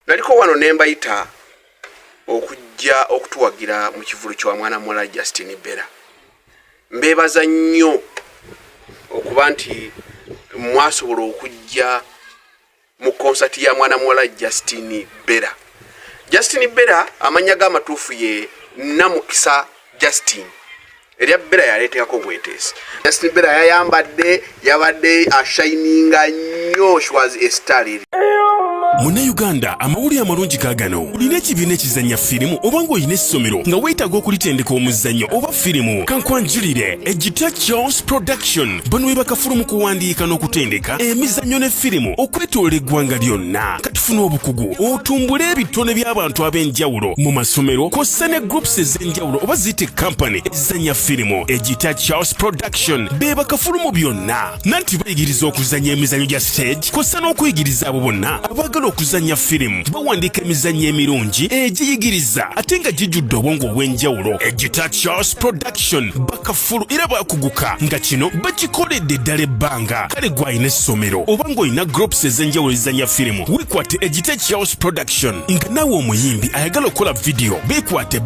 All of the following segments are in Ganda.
naliko wano nembayita okujja okutuwagira mu kivulu kya mwana muwala justin bera mbebaza nnyo okuba nti mwasobola okujja mu konsati ya mwana muwala justin bera justin bera amannya g'amatuufu ye namukisa justin erya bera yaleetekako obweteesi justin bera yayambadde yabadde ashininga nnyo shwas estaliri munnayuganda amawulire amalungi kaagano olina ekibiina ekizannya firimu oba ng'olina essomero nga weetaaga okulitendeka omuzannyo oba firimu kankwanjulire egita charles production bano we bakafulu mu kuwandiika n'okutendeka emizannyo ne firimu okwetolola eggwanga lyonna katufuna obukugu otumbule ebitone by'abantu ab'enjawulo mu masomero kw'ossa ne groups ez'enjawulo enjawulo oba zite kampani ezizanya firimu egita charles production bebakafulu mu byonna nanti bayigiriza okuzanya emizanyo gya stage kosa n'okuyigiriza abo bonna abagala okuzanya firimu bawandiika emizanyo emirungi egiyigiriza ate nga gijjudde obwongo obw'enjawulo egita charles production bakafulu era bakuguka nga kino bakikoledde eddala ebbanga kale gwalina essomero oba ng'olina groups ez'enjawulo ezizanya firimu wekwate egita charles production nga naawe omuyimbi ayagala okukola vidiyo bekwate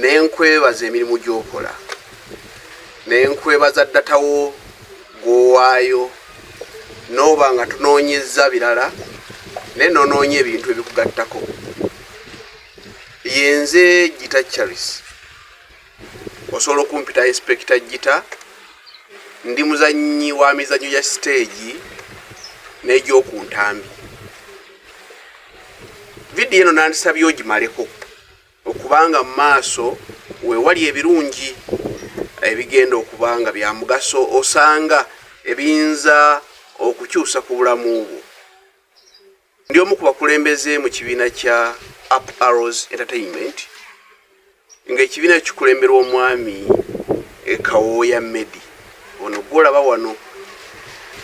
ne nkwebaza emirimu gy'okola ne nkwebaza ddatawo gw'owaayo n'oba nga tunoonyezza birala naye noonoonya ebintu ebikugattako yenze gita charis osobola okumpita inspekita gita ndi muzannyi wa mizannyo gya siteegi n'egy'oku ntambi vidiyo eno nandisabye ogimaleko Okuba nga mu maaso we wali ebirungi ebigenda okuba nga bya mugaso osanga ebiyinza okukyusa ku bulamu bwo. Ndi omu ku bakulembeze mu kibiina kya Up Arrows Entertainment ng'ekibiina kikulemberwa omwami e Kawooya Medi ono gwolaba wano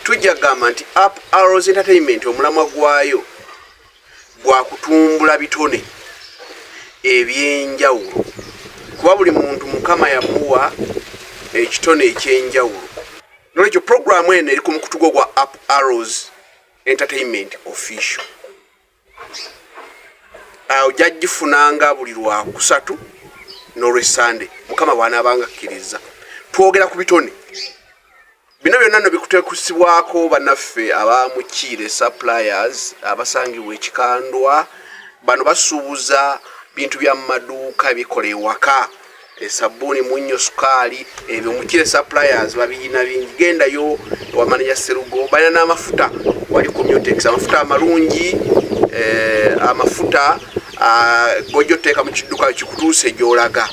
tujja kugamba nti Up Arrows Entertainment omulamwa gwayo gwa kutumbula bitone eby'enjawulo kuba buli muntu mukama yamuwa ekitone eky'enjawulo nolwekyo puroguramu eno eri ku mukutu gwo gwa up arrows entertainment official awo jajjifunanga buli lwakusatu n'olwesande mukama bwanaabanga akkiriza twogera ku bitone Bino byonna no bikutekusibwako banaffe aba Mukiire Suppliers abasangibwa ekikandwa bano basuubuza bintu bya maduuka bikola ewaka esabbuuni munnyo sukaali ebyo Mukiire Suppliers babiyina bingi gendayo ewamaneja Serugo balina n'amafuta wali commutex amafuta amalungi eh, amafuta ah, gojja oteeka mu kidduka kikutuuse gyolaga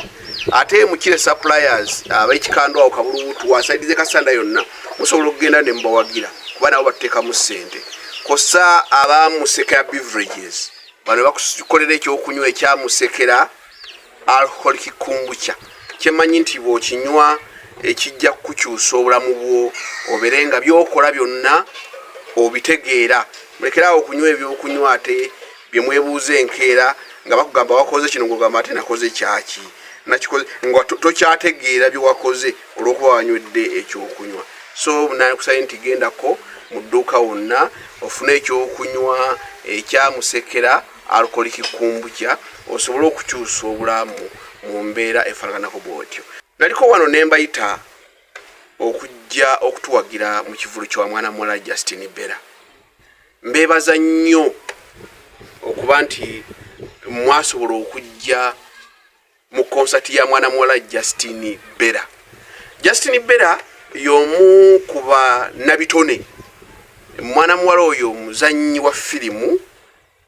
ate mukire suppliers abekikandwa awo kabulubutu wasaidize kasanda yonna musobola okugenda ne mubawagira kuba nabo batuteekamu ssente kosa abamusekera beverages bano bakukolera ekyokunywa ekyamusekera alcoholic kumbucha kyemanyi nti bwokinywa ekijja kukukyusa obulamu bwo obere nga byokola byonna obitegeera mulekeraawo okunywa ebyokunywa ate bye mwebuuza enkeera nga bakugamba wakoze kino ngogamba ate nakoze kyaki nakikoze nga tokyategeera bye wakoze olw'okuba wanywedde ekyokunywa so nakusabye nti gendako mu dduuka wonna ofune ekyokunywa ekyamusekera alkoliki kumbukya osobole okukyusa obulamu mu mbeera efanaganako bwotyo naliko wano nembayita okujja okutuwagira mu kivulu kya mwana muwala justin bera mbebaza nnyo okuba nti mwasobola okujja mu konsati ya mwana muwala justin bera justin bera yomu ku banabitone mwana muwala oyo muzannyi wa firimu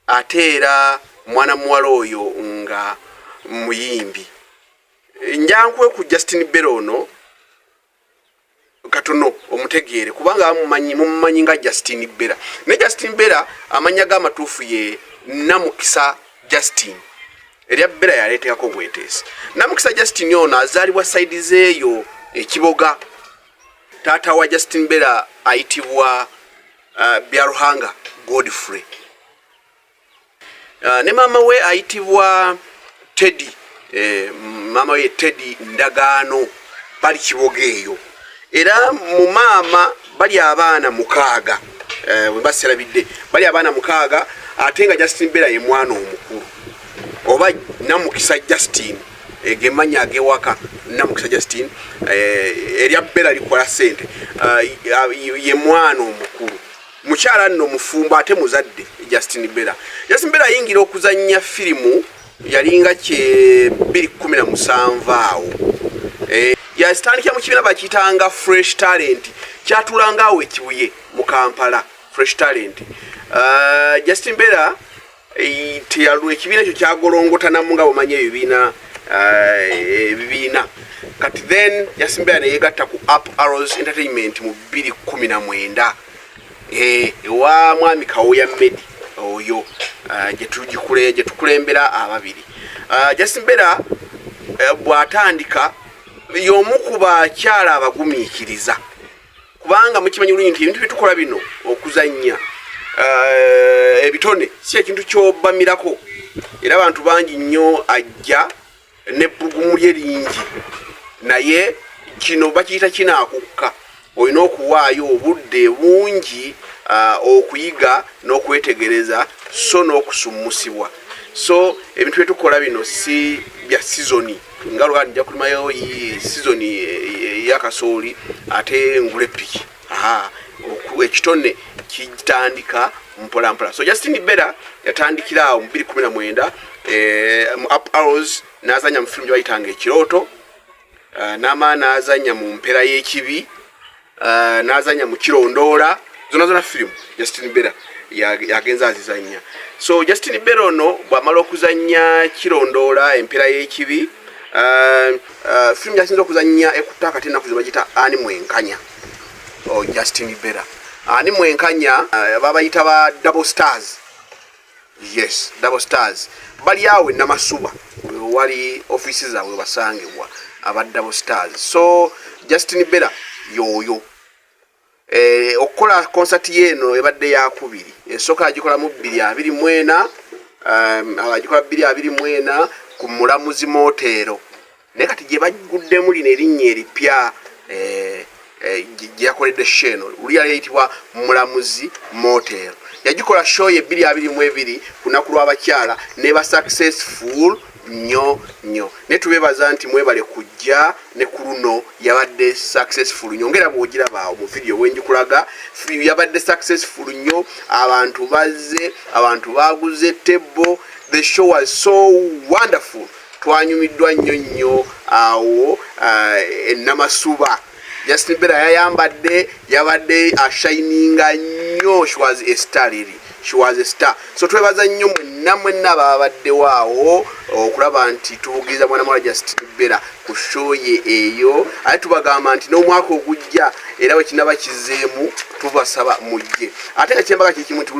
ate era mwana muwala oyo nga muyimbi njankwe ku justin bera ono katono omutegeere kubanga amumanyi mumumanyi nga Justin Bera ne Justin Bera amanya ga matufu ye namukisa Justin erya Bera yaleteako bwetesi namukisa Justin ono azalibwa side zeyo ekiboga tata wa Justin Bera aitibwa uh, Byaruhanga Godfrey Uh, ne maama we ayitibwa Teddy eh, maama we Teddy Ndagaano bali kiboga eyo era mu maama bali abaana mukaaga eh, bwe baserabidde bali abaana mukaaga ate nga Justin Bera ye mwana omukulu oba namukisa Justin eh, gemanya agewaka namukisa Justin eh, erya Bera likola sente uh, ye mwana omukulu Mukyala nno mufumbo ate muzadde Justin Bella. Justin Bella yayingira okuzannya firimu yalinga kye 217 awo. Eh, yasitandikira mu kibiina bakiyitanga Fresh Talent kyatulanga awo ekibuye mu Kampala Fresh Talent. Uh, Justin Bella teyalwa ekibiina ekyo kyagolongotanamu nga bumanya ebibiina eh, ebibiina kati then yasimbeera neyegatta ku up arrows entertainment mu bbiri kumi na mwenda eh, ewa mwami kawoya medi oyo eh, gyetukulembera ababiri jasimbeera bwatandika yomu ku bakyala abagumiikiriza kubanga mukimanyi bulungi nti ebintu byetukola bino okuzannya eh, ebitone si ekintu kyobamirako era abantu bangi nnyo ajja nebbugumu lye lingi naye kino bakiyita kinaakukka olina okuwaayo obudde bungi eh, okuyiga n'okwetegereza so n'okusummusibwa so ebintu byetukola bino si bya sizoni nga lwali nja kulimayo sizoni eh, yakasooli ate ngule piki ekitone kitandika mpolampola so justin bera yatandikira awo mubiri kumi na mwenda eh, mu up arrows nazanya mu filimu gyebayitanga ekirooto eh, namaana azanya mu mpera y'ekibi uh, nazanya mukirondoola zona zona firimu justin bera yagenza ya azizanya so justin bera ono bwamala okuzanya kirondoola empeera y'ekibi uh, uh, firimu gyasinza okuzanya ekutta kati enaku zebagita ani mwenkanya oh, justin bera ani mwenkanya uh, babayita ba double stars yes double stars bali awo enamasuba wewali offiisi zaabwe basangibwa aba double stars so justin bera yoyo eh, okukola konsati yeeno ebadde yakubiri esooka agikolamu bbiri abiri mwena um, agikola bbiri abiri mwena ku mulamuzi moteero naye kati gye bagguddemu lino erinnya eripya eh, eh, gyeyakoledde sho eno luli yali eyitibwa mulamuzi motel yagikola sho ye ebbiri abiri mu ebiri ku lunaku lw'abakyala neba successful nnyo nnyo naye tubebaza nti mwebale kujja ne ku luno yabadde successful nnyo ngaera bwogirabaawo mu vidiyo bwengikulaga yabadde successful nnyo abantu bazze abantu baguze tebbo the show was so wonderful twanyumiddwa nnyo nnyo awo eh, enamasuba justin bera yayambadde yabadde ashininga nnyo she was a star liri she was a star so twebaza nnyo mwenna mwenna babaddewo awo okulaba nti tubugiriza mwana mwala justin bera ku shoye eyo ate tubagamba nti n'omwaka ogujja era wekinaba kizeemu tubasaba mujje ate nga kyembaga kyekimu nti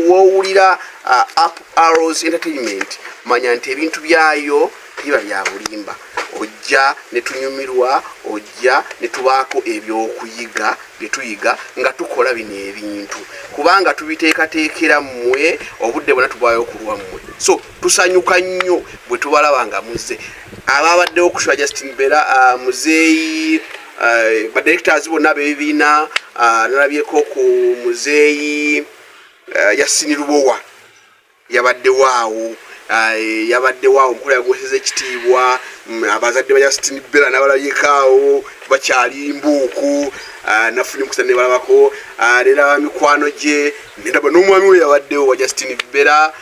wowulira uh, up arrows entertainment manya nti ebintu byayo biba bya bulimba ojja ne tunyumirwa ojja ne tubaako ebyokuyiga bye tuyiga nga tukola bino ebintu kubanga tubiteekateekera mmwe obudde bwona tubwayo kulwa mmwe so tusanyuka nnyo bwe tubalaba nga muzze ababaddewo kusula justin bera uh, muzeeyi uh, badirectors bonna bebibiina uh, nalabyeko ku muzeeyi uh, yasini lubowa yabaddewo awo eh, yabaddewo awo nkola yagoseza ekitiibwa mm, abazadde ba yasitini bela nabalabika awo bakyali mbuuku eh, nafuna emukisa nebalabako eh, nera mikwano gye nedaba n'omwami we yabaddewo wa justini bela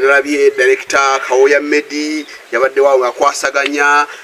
nalabye direkita kawoya medi yabaddewo awo akwasaganya uh,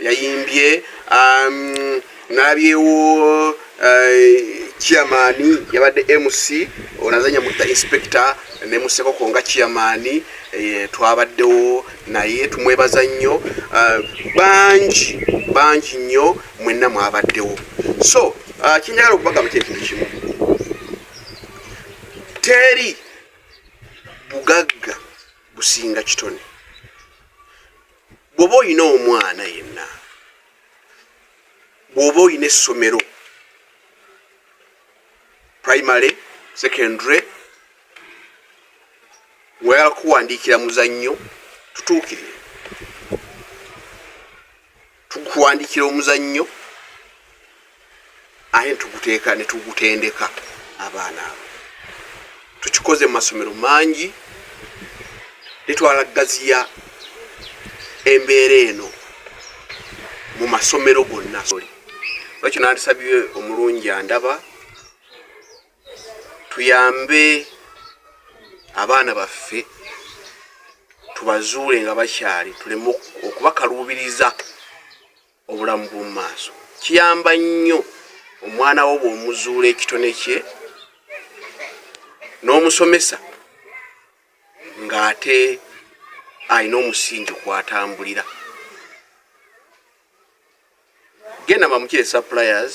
yayimbye um, nalabyewo uh, chairman yabadde mc onazanya mutta inspector ne musekoko nga chairman eh, twabaddewo naye tumwebaza nnyo uh, bangi bangi nnyo mwenna mwabaddewo so uh, kyenjagala okubagamba kyekintu kimu teri bugagga businga kitone bwoba olina omwana yenna bwoba olina essomero primary secondary ngoyala kuwandiikira muzannyo tutuukirire tukuwandiikira omuzannyo aye netuguteeka netugutendeka abaana abo tukikoze mu masomero mangi netwala gaziya embeera eno mu masomero gonna lwekyo nandisabye omulungi andaba tuyambe abaana baffe tubazuule nga bakyali tuleme okubakaluubiriza obulamu bw'omu maaso kiyamba nnyo omwana wo bw'omuzuula ekitone kye n'omusomesa ng'ate alina omusingi kwatambulira genda mamukire suppliers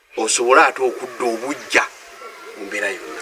osobole ate okudda obujja mu mbeera yonna